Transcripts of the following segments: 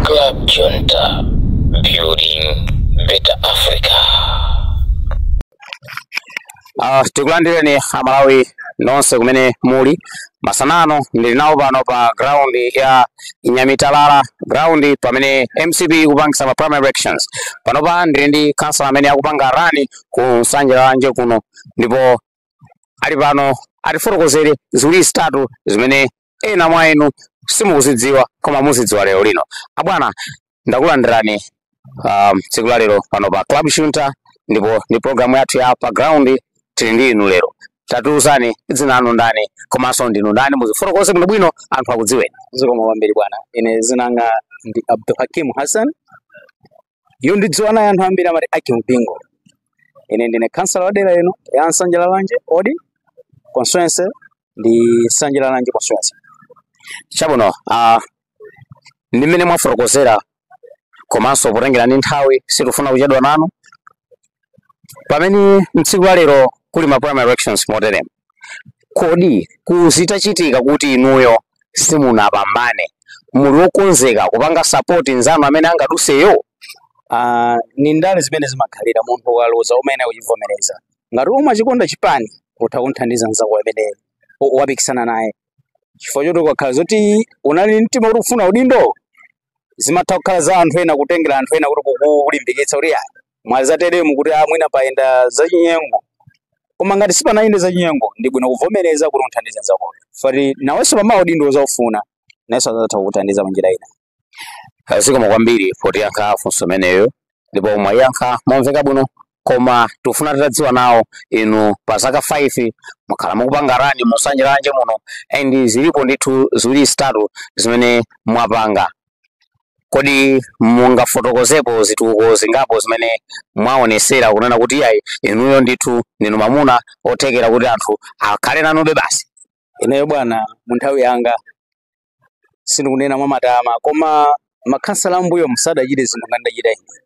Club Junta, building better Africa. Ah, tikulandireni amalawi nonse kumene muli masana ano ndili nawo pano pa ground ya nyamitalala ground pamene mcp ikupangisa ma primary elections panopa ndili ndi councilor amene akupanga rani ku Nsanje Lalanje kuno ndipo ali pano atifotokozere ziwiri zitatu zimene ena mwa inu simukuzidziwa koma muzidziwa lero lino abwana ndakulandirani um, tsiku la lero pano pa Club Junta ndipo ndi programu yathu ya pa ground tili ndi inu lero tatiuzani dzina lanu ndani komanso ndinu ndani muzifotokoze bwino bwino anthu akudziweni zikomo kwambiri bwana ine zinanga ndi abdulhakim hassan Iyo ndidziwa naye anthu ambiri amati Hakim Bingo. Ine ndine khansala wa dera ino ya Nsanje Lalanje odi constituency ndi Nsanje Lalanje constituency. Chabwino, ah, ndi mmene mwafotokozera komanso potengera ndi nthawi sitifuna kuchedwa nanu pamene mtsiku la lero kuli ma primary elections moteremu Kodi zitachitika kuti inuyo simunapambane, muli wokonzeka kupanga sapoti nzanu amene angaduseyo? Ah, ni ndale zimene zimakhalira munthu ukaluza umayenera kuvomereza ngati umachikonda chipani utha kunthandiza mzako amene u- wapikisana naye chifukwa choti ukakhala zoti unali ndi mtima kuti ufuna udindo zimatha kukhala za anthu ena kutengera anthu ena kuti kukulimbikitsa kuti "Ah, mwazateremu kuti ah, mwina payenda zachinyengo koma ngati sipanayende zachinyengo ndi bwino kuvomereza kuti umuthandize nzakoyo poti nawenso pamawa udindo uzaufuna nayenso azatha kukuthandiza mwa njira ina zikomo kwambiri potiyankha funso imeneyo ndipo mwayankha momveka bwino koma tikufuna titadziwa nawo inu pa zaka 5 mwakhala mukupanga rani mu Nsanje Lalanje muno and zilipo ndithu ziwiri zitatu zimene mwapanga kodi mungafotokozepo zitukuko zingapo zimene mwaonesera kunena kuti ayi inuyo ndithu ndinu mamuna othekera kuti anthu akhale nanube basi ineyo bwana mu nthawi yanga sindikunena mwamatama koma makhansala ambuyomu sadachite zinthu ngati ndachita ine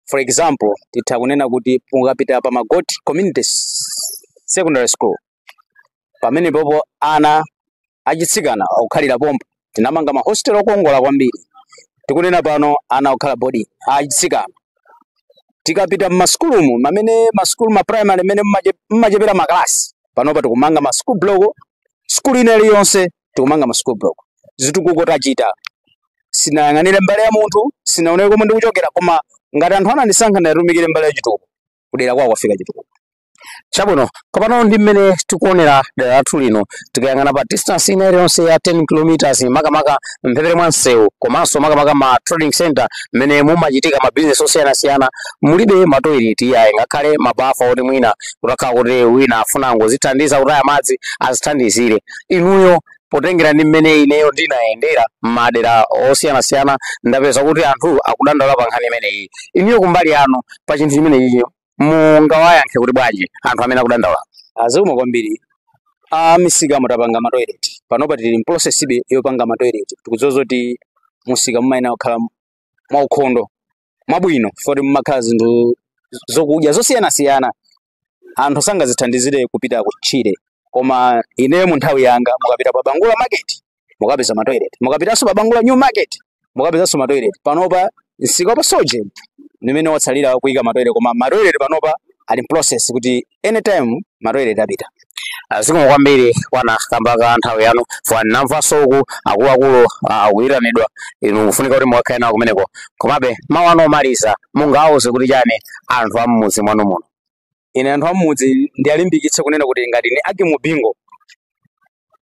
for example titha kunena kuti mukapita pa magoti community secondary school pamene popo ana achitsikana akukhalira pompo tinamanga mahostel okongola kwambiri tikunena pano ana akukhala boarding achitsikana tikapita mmasukulumu mamene masukulu ma primary mene mmache- mmachepera makalasi panopa tikumanga ma school block skulu ina iliyonse tikumanga ma school block zitukuko tachita sinayang'anire mbali ya munthu sinaonere komwe ndikuchokera koma ngati anthu anandisankha ndatumikire mbali ya chitukuko kudera kwawo kwafika chitukuko chabwino komano ndi mmene tikuonera dera lathu lino tikayang'ana pa distance ina iliyonse ya 10 kilometers makamaka mphepete mwa msewu komanso makamaka ma trading center mmene mumachitika ma business osiyanasiyana mulibe matoileti iyayi ngakhale mabafa oti mwina kutakhala kuti wina afuna angozithandiza kutaya madzi azithandizire inuyo potengera ndi mmene ineyo ndinayendera m'madera osiyanasiyana ndapeza kuti anthu akudandaula pa nkhani imeneyi inuyo kumbali yanu pa chinthu chimenechi mungawayankhe kuti bwanji anthu amene akudandaula ah zikomo kwambiri ah misikamo tapanga matoilet panopa tili mprocess-be yopanga matoilet tikudziwa zoti musika mumayenera kukhala mwaukhondo mwabwino foti mumakhala zinthu zokudya zosiyanasiyana anthu sangazithandizire kupita kutchire koma ineyo mu nthawi yanga mukapita pa bangula market mukapeza matoilet mukapitanso pa bangula new market mukapezanso matoilet panopa msika wa pa sorgin ndimene watsalira kuyika matoilet koma matoilet panopa ali in process kuti anytime matoilet apita zikomo kwambiri bwana kamba ka nthawi yanu foni ndamvanso uku akuluakulu ah, mukuyitanidwa inu kufunika kuti mukakhale nawo kumeneko komabe mawu anu omaliza mungawauze kuti chani anthu a m'mudzi mwanu muno ine anthu a m'mudzi ndiwalimbikitse kunena kuti ngati ni aki mubingo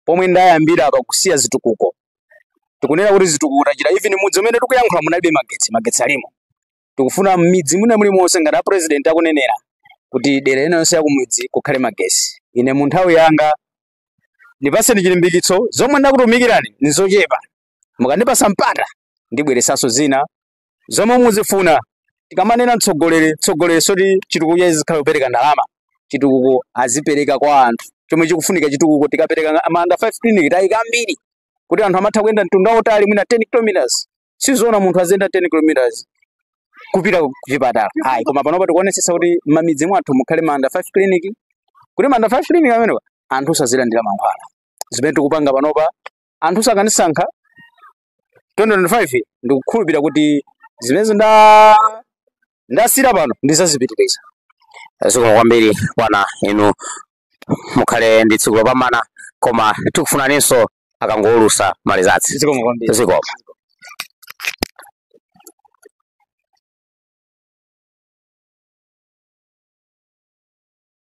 pomwe ndayambira apa kusiya zitukuko tikunena kuti zitukuko tachita even mudzi umene tikuyankhula munalibe magetsi magetsi alimo tikufuna mmidzi mwina mulimonse ngati a president akunenera kuti dera ina yonse yakumidzi kukhale magesi ine mu nthawi yanga ndipaseni chilimbikitso zomwe ndakutumikirani nizochepa mukandipasa mpata ndibweresanso zina zomwe muzifuna tikamanena mtsogoleri mtsogoleri soti chitukuko chake azikhala kupereka ndalama chitukuko azipereka kwa anthu chomwe chikufunika chitukuko tikapereka ma under 5 clinic tayika ambiri kuti anthu amatha kuyenda mtunda wautali mwina 10 kilometers sizoona munthu aziyenda 10 kilometers kupita ku chipatala ayi koma panopa tikuonesesa kuti m'mamidzi mwathu mukhale ma under 5 clinic kuti ma under 5 clinic amenewa anthu azilandira mankhwala zimene tikupanga panopa anthu akanisankha 2025 ndikukhulupirira kuti zimene zinda ndasiira pano ndizazipitiriza zikomo kwambiri bwana inu mukhale ndi tsiku lopambana koma tikufunaninso akangowulusa ma results zikomo kwambiri zikomo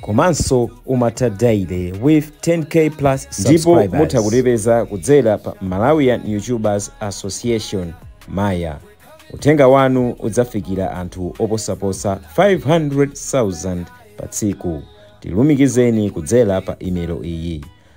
komanso umatha daily with 10k plus ndipo mutha subscribers. kutipeza kudzera pa malawian youtubers association maya uthenga wanu udzafikira anthu oposaposa 500,000 pa tsiku tilumikizeni kudzera pa imelo iyi